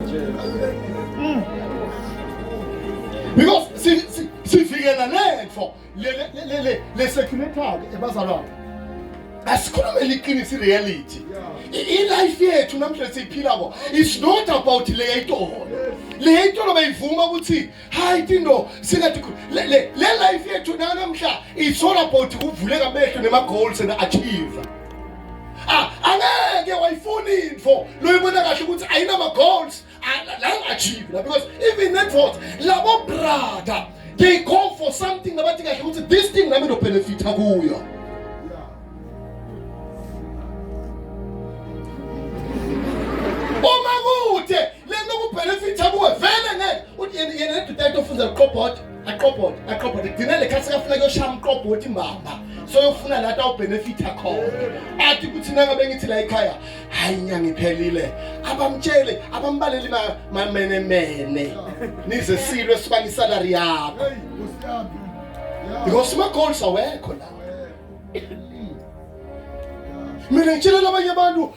Mm. Because sivikela lento le le le le le security ebazalwana asikhulume liqiniso ireality ilife yethu namhlanje siyiphilako is not about le yayitolo le yayitolo bayivuma ukuthi hayi tinto singathi le le le life yethu nanamhla it's all about ukuvuleka amehlo nema-goals and achieve ah angeke wayifuna info loyibona kahle ukuthi ayinama-goals achieve la because even netfort labo brother they go for something abathi kahle ukuthi this thing nami ndobenefitha kuyo uma kude lento kubhenefitha kuwe vele ngeke uthi yena yena nedoda yakhe ofunza liqobhota aqobhota aqobhota kugcina le khathi sekafuna kuyoshaya umqobhoti mbamba soyofuna la tawubhenefitha khona athi kuthi nangabe ngithi la ekhaya hayi inyanga iphelile abamtshele abambaleli ma- mamenemene nize silwe sibanga isalari yakho Hey, Nkosi yami. Yeah. because umagoals awekho la Yeah. mina ngitshelela abanye abantu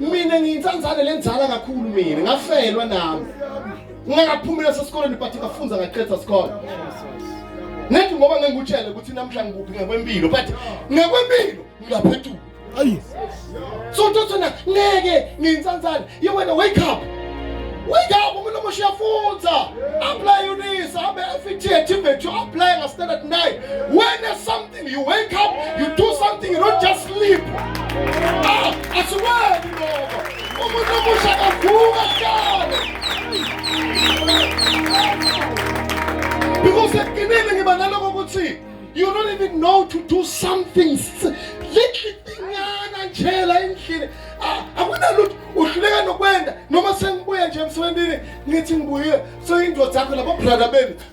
mina ngiyinsanzane lenzala kakhulu mina ngafelwa nami ngingakaphumi leso sikoleni but ngafunza ngaqeda sikole nethi ngoba ngengikutshele ukuthi namhla ngikuphi ngekwempilo but ngekwempilo ngiyaphethuka ayi so ntothana ngeke ngiyinsanzane ye wena wake up wake up umuntu omusha uyafunza apply unisa abe FET activate you apply ngastandard 9 wena some You wake up, you do something, you don't just sleep. Ah, asiweni lokho. Umuntu omusha kavuka kudala. Because ekugcineni ngiba naloko ukuthi you don't even know to do something little thingana nje la endlini. Ah, akunalutho uhluleka nokwenda noma sengibuya nje emsebenzini ngithi ngibuyile so indoda yakho labo brother benu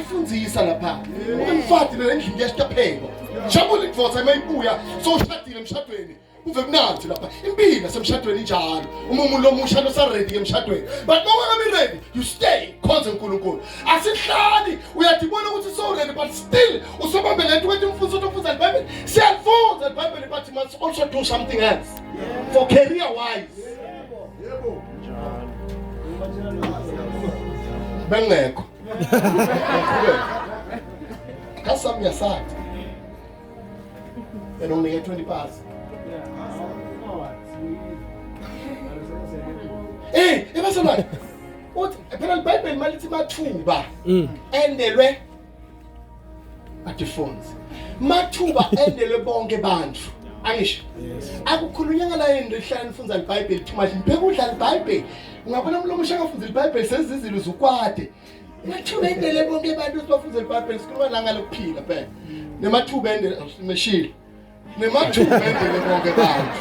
Mfundisa lapha. Umfati nale ndlu ngiyashtaphekwa. Jabula ivosa mayibuya soshadile emshadweni. Uve mnandi lapha. Impilo yasemshadweni njalo. Uma umuntu omusha lo saredi emshadweni. But uma ungabi ready, you stay khonze uNkulunkulu. Asihlali uyadibona ukuthi so ready but still usebambe lento ukuthi umfundisi uthi ufunza iBhayibheli. Siyafunza iBhayibheli but must also do something else for career wise. Yebo. Bengekho. That's something aside. And only get 20 pass. Eh, eba sana. Uthi phela iBhayibheli malithi mathuba. Mm. Endelwe Adifunds. Mathuba endele bonke bantu. Angisho. Akukhulunyanga la yini lihlala nifunza iBhayibheli too much. Ngibheka udlala iBhayibheli. Ungabona umuntu omusha akafunza iBhayibheli sezizilo uzukwade. Mathuba endele bonke bantu sibafunza iBhayibheli sikhuluma la ngalokuphila phela. Nemathuba endele meshile. Nimathuba endlini bonke bantu.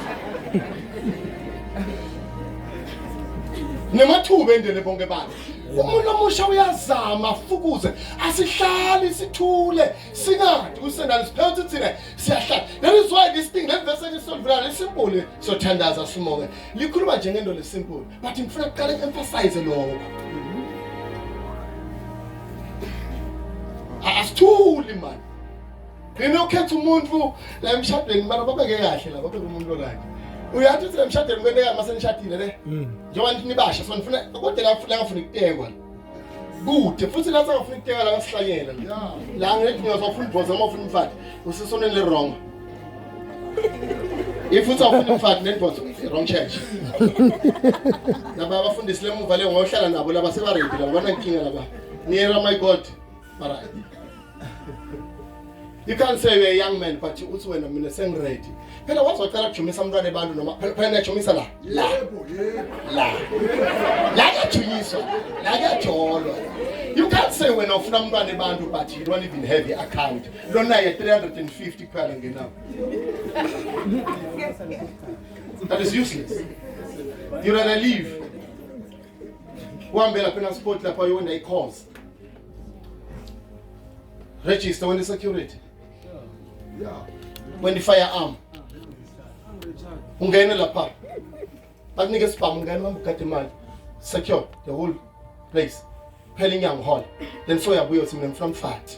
Nimathuba endlini bonke bantu. Umuntu omusha uyazama afukuze asihlali sithule singathi kusenalo siphethe thina siyahlala. That is why this thing le verse elisondvula lesimple sothandaza simoke. Likhuluma nje ngento lesimple but ngifuna kuqala emphasize lokho. Asithuli manje. Ngene ukhetha umuntu la emshadweni mara babeke kahle la babeke umuntu right. Uyathi uthi emshadweni kwente kama senishadile le. Mm. Njengoba nithi nibasha so nifuna kodwa la ngifuna ngifuna ukutekwa. Kude futhi la sengafuna ukutekwa la ngasihlanyela. La ngithi ngiyazofuna ibhoza uma ufuna umfati usesonweni le wrong. If uthi awufuna umfati nenibhoza wrong church. Laba abafundisi lemuva le ngohlala nabo laba sebaready laba banankinga laba. Niyera my God. But I, you can't say you're a young man but uthi wena mina sengiready phela waze wacela kujumisa umntwana ebantu noma phela phela niyajumisa la la la la kuyajunyiswa la kuyajolwa you can't say wena ufuna umntwana ebantu but you don't even have the account lona ye 350 kuphela ngenawo that is useless you rather leave uhambe lapha enasport lapha uyona i-cause Register when the security. Yeah. When the firearm. Ungene lapha. Bakunike sibhamu ungene uhamba ugade imali. Secure the whole place. Phela inyango hall. Then soyabuya uthi mina ngifuna umfathi.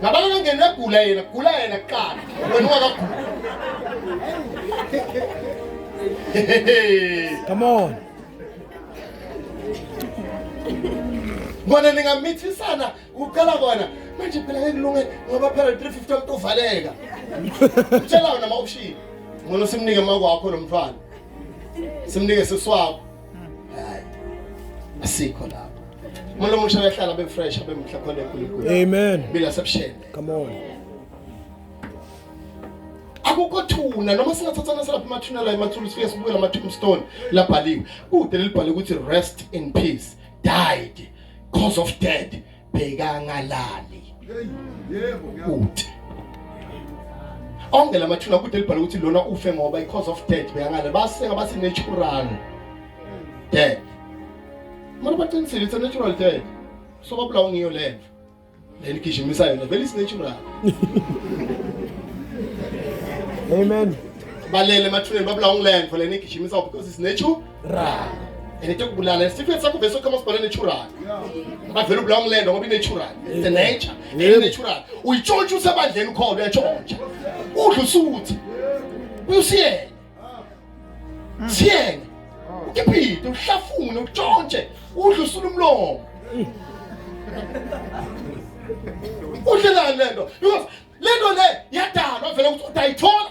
Ngabanye bengena egula yena, gula yena kuqala. Wena ungakagula. Come on. Ngwana ningamithisana uqala kona manje phela ngeke kulunge ngoba phela 350 umuntu uvaleka. Utshela wena ma option. Ngcono simnike makwakho lo mfana. Simnike siswakho. hayi asikho lapho umuntu omusha uyahlala abe fresh abe muhle khona enkulunkulu amen bila sebushele come on akukho thuna noma singathathana selapha amathuna la emathuna sifike sibuyela ama tombstone labhaliwe kude lelibhale ukuthi rest in peace died cause of dead bekangalali kude onke lamathuna kude libhala ukuthi lona ufe ngoba because of death bekangalali baseka bathi natural death mara baqinisile it's a natural death so babulawa ngiyo lento leli gijimisa yona vele is natural amen balele emathuneni babulawa ngilento leni gijimisa because it's natural rana and into yokubulala isifo sakho vese ukhama sibhala nechurana bavela ubulawa umlendo ngoba inechurana it's the nature and nechurana uyitshontsha usebandleni ukhona uyatshontsha udla usuthi usiyena siyena ukiphide uhlafune utshontshe udla usula umlomo udlelani lento because lento le yadalwa vele ukuthi udayithola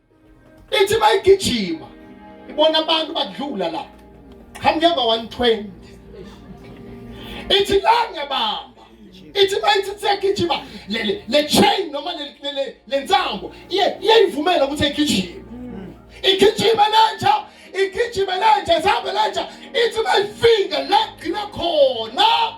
ithi bayigijima ibona abantu badlula la hamnyamba 120 ithi la ngiyabamba ithi bayithi sekugijima le chain noma le nsambo iyayivumela ukuthi igijime igijima lenja igijima lenja ihambe lenja ithi bayifika la gcina khona